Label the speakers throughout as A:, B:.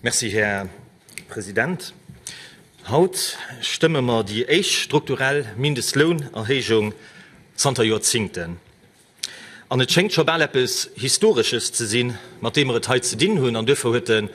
A: Merci, Här President. Haut stëmme mer déi éischt strukturell Mindestlounerhéijung zanter Joerzingten. An et schéngt scho bal eppes Historesches ze sinn, mat deem mer et hei ze dinn hunn. An duerfir huet de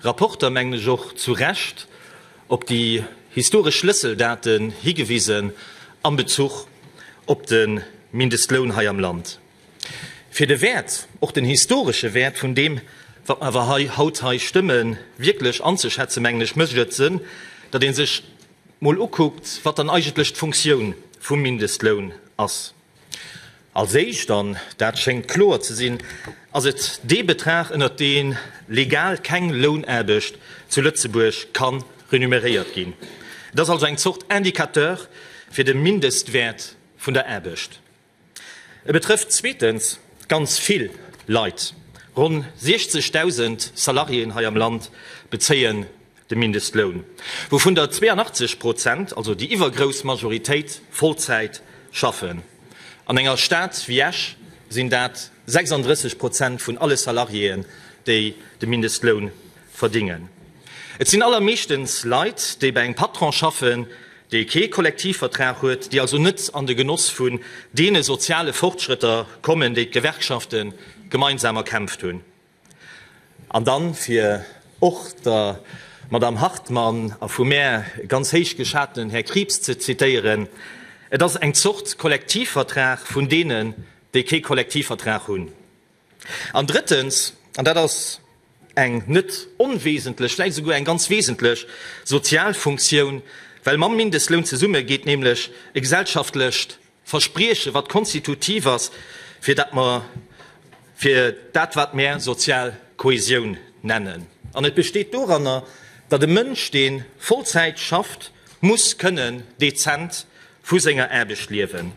A: Rapporter, mengen ech, och zu Recht op déi historesch Schlësseldaten higewisen am Bezuch op de Mindestloun hei am Land, fir de Wäert, och den historesche Wäert vun deem, wat mer awer haut hei stëmme, wierklech anzeschätzen, mengen ech, mécht et Sënn, datt ee sech emol ukuckt, wat dann eigentlech d'Funktioun vum Mindestloun ass. Als éischt, an dat schéngt kloer ze sinn, ass et dee Betrag, ënnert dee legal keng Lounaarbecht zu Lëtzebuerg ka renumeréiert ginn. Et ass also eng Zort Indicateur fir de Mindestwäert vun der Aarbecht. E betrëfft zweetens ganz vill Leit, ronn 60.000 Salariéen hei am Land bezéie de Mindestloun, wouvun der 82 Prozent, also déi iwwergrouss Majoritéit, Vollzäit schaffen. An enger Stad wéi Esch sinn dat 36 Prozent vun alle Salariéen, déi de Mindestloun verdingen. Et sinn allermeeschtens Leit, déi bei engem Patron schaffen, dee kee Kollektivvertrag huet, déi also net an de Genoss vun deene soziale Fortschrëtter kommen, déi d'Gewerkschafte gemeinsam erkämpft hunn. An dann fir och der Madame Hartmann a vu mär ganz héich geschatenen Här Krieps ze zitieren, Et ass eng Zort Kollektivvertrag vun deenen, déi kee Kollektivvertrag hunn. An drëttens, an dat ass eng net onwesentlech, vläicht esouguer eng ganz wesentlech sozial Funktioun, well mam Mindestloun zesumme geet nämlech e gesellschaftlecht Verspriechen, wat konstitutiv ass fir dat mer, fir dat wat mär sozial Kohäsioun nennen. An et besteet doranner, datt e Mënsch deen Vollzäit schafft muss kënnen dezent vu senger Aarbecht liewen.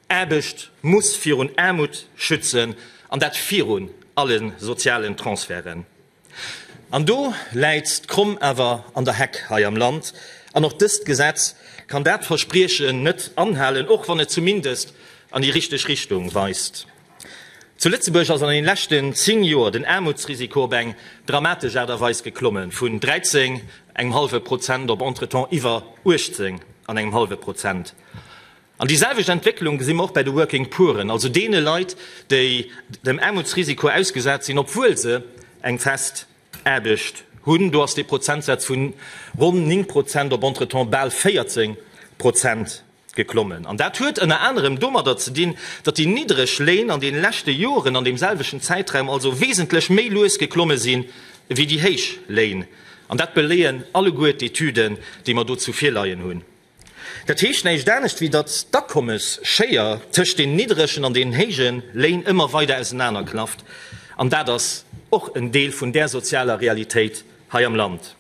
A: Aarbecht muss virun Aarmut schützen, an dat virun allen sozialen Transferten. An do läit d'Kromm awer an der Heck hei am Land, an och dëst Gesetz kann dat Verspriechen net anhalen, och wann et zumindest an déi richteg Richtung weist. Zu Lëtzebuerg ass an den leschten 10 Joer den Aarmutsrisiko op eng dramatesch Aart a Weis geklommen, vun 13 engem hallwe Prozent op entretemps iwwer 18 an engem hallwe Prozent. An déi selwecht Entwécklung gesi mer och bäi de Working Pooren, also deene Leit, déi dem Aarmutsrisiko ausgesat sinn, obwuel se eng fest Aarbecht hunn. Do ass dee Prozentsaz vu ronn 9 Prozent op entretemps bal 14 Prozent geklommen. An dat huet ënner anerem domadder ze dinn, datt déi niddreg Léin an deene leschte Joren an deem selwechten Zäitraum also wesentlech méi lues geklomme si wéi déi héich Léin. An dat beléien alleguer d'Etüden, déi mer dozou virleien hunn. Dat heescht näischt anescht wéi datt d'Akommesschéier tëscht den nidderegen an den héije Léin ëmmer weider ausenaner klafft, an dat ass och en Deel vun där sozialer Realitéit hei am Land.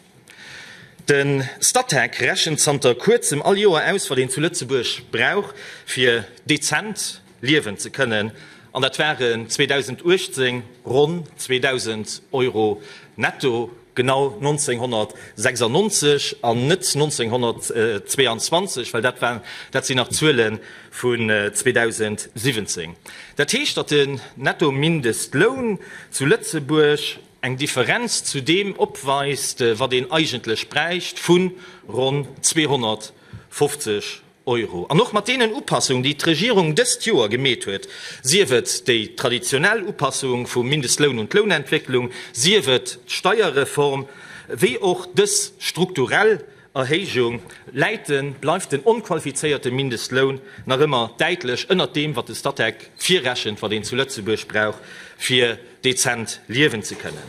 A: De Statec rechent zanter kuerzem all Joer aus, wat een zu Lëtzebuerg brauch fir dezent, Liewen ze kënnen, an dat waren 2018 ronn 2.000 Euro netto, genau 1996 an net 1922, well dat war, dat sinn nach Zuele vun 2017. Dat heescht, datt den Nettomindestloun zu Lëtzebuerg eng Differenz zu deem opweist, wat een eigentlech bräicht, vu ronn 250 Euro. An och mat deenen Upassungen, déi d'Regierung dëst Joer gemeet huet, sief et déi traditionell Upassung vum Mindestloun un d'Lounentwécklung, sief et d'Steierreform, wéi och dës strukturell Erhéijung, läit de, bleift den onqualifizéierte Mindestloun nach ëmmer däitlech ënnert deem, wat de Statec virrechent, wat een zu Lëtzebuerg brauch, fir dezent liewen ze kënnen.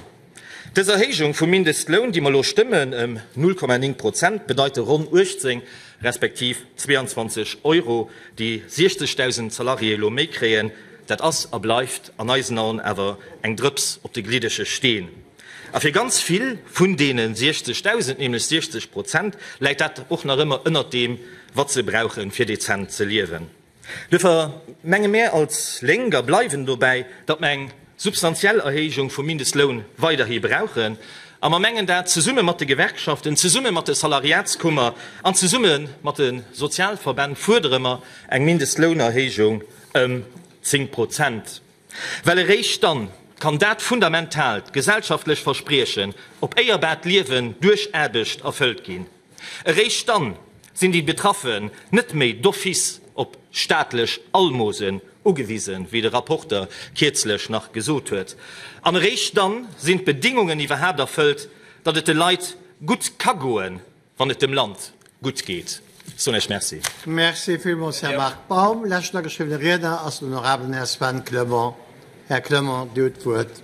A: Dës Erhéijung vum Mindestloun, déi mer elo stëmmen, ëm 0,9 Prozent, bedeite ronn 18 respektiv 22 Euro, déi 60.000 Salariéë elo méi kréien. Dat ass a bleift an eisen Aen awer eng Drëps op de gliddege Steen. A fir ganz vill vun deene 60.000, nämlech 60 Prozent, läit dat och nach ëmmer ënnert deem, wat se brauchen, fir dezent ze liewen. Duerfir menge mär als Lénk a bleiwen dobäi, datt mer eng substantiell Erhéijung vum Mindestloun weiderhi brauchen. A mer mengen dat zesumme mat de Gewerkschaften, zesumme mat de Salariatskummer an zesumme mat de Sozialverbänn fuerdere mer eng Mindestlounerhéijung ëm 10 Prozent. Well eréischt dann kann dat fundamentaalt gesellschaftlecht Verspriechen op éierbaart Liewen duerch Aarbecht erfëllt ginn. Eréischt dann sinn déi Betraffen net méi d'office op staatlech Almosen ugewisen, wéi de Rapporter kierzlech nach gesot huet. An eréischt dann sinn d'Bedingungen iwwerhaapt erfëllt, datt et de Leit gutt ka goen, Wann et dem Land gutt geet, soen ech Merci. Merci villmools,
B: Här Marc Baum. Leschten ageschriwwene Riedner ass den honorabelen Här Sven Clement. Här Clement, Dir hutt d'Wuert.